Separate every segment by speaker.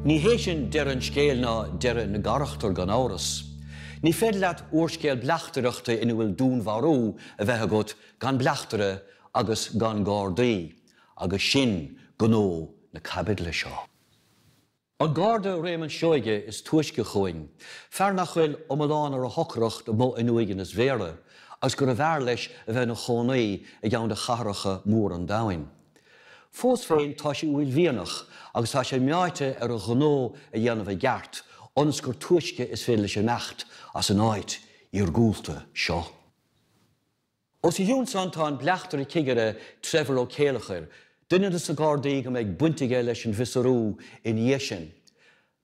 Speaker 1: Ní hé sin deireadh an scéil ná deireadh na gcarachtar gan amhras. Ní féidir leat úrscéal bleachtaireachta ina bhfuil dúnmharú a bheith agat gan bleachtaire agus gan gardaí agus sin gnó na caibidle seo. An Garda Réamonn Seoige is túisce chugainn, fear nach bhfuil iomlán ar a shocracht amuigh in uaigneas Bhéarra agus gurbh fhearr leis a bheith ina chónaí i gceann de chathracha móra an domhain. Fós féin tá sé uaillmhianach agus tá sé meáite ar a ghnó a dhéanamh i gceart ionas gur túisce is féidir leis imeacht as an áit iargúlta seo. Os a chionn san tá an bleachtaire-chigire Trevor Ó Céilleachair, duine de sa Gardaí go mbeidh baint aige leis an bhfiosrú ina dhiaidh sin.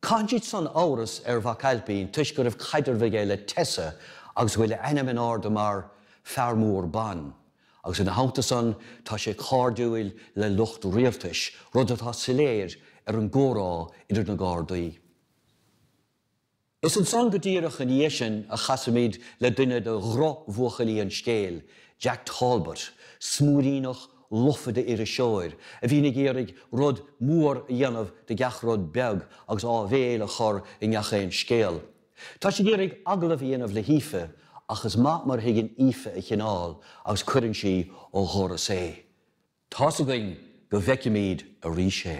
Speaker 1: Caitheann siad san amhras ar Mhac Ailpín toisc go raibh caidreamh aige le Tessa agus go bhfuil a ainm in airde mar 'Fear Mór Ban' agus ina theannta san tá sé cairdiúil le lucht rialtais, rud atá soiléir ar an gcomhrá idir na Gardaí. Is ansan go díreach ina dhiaidh sin a chasaimid le duine de dhrochbhuachaillí an scéil, Jack Talbot, smúiríneach lofa d'iriseoir a bhíonn ag iarraidh rud mór a dhéanamh de gach rud beag agus áibhéil a chur i ngach aon scéal. Tá sé ag iarraidh agallamh a dhéanamh le hAoife ach is maith mar a thuigeann Aoife a chineál agus cuireann sí ó dhoras é. Tá's againn go bhfeicfimid arís é.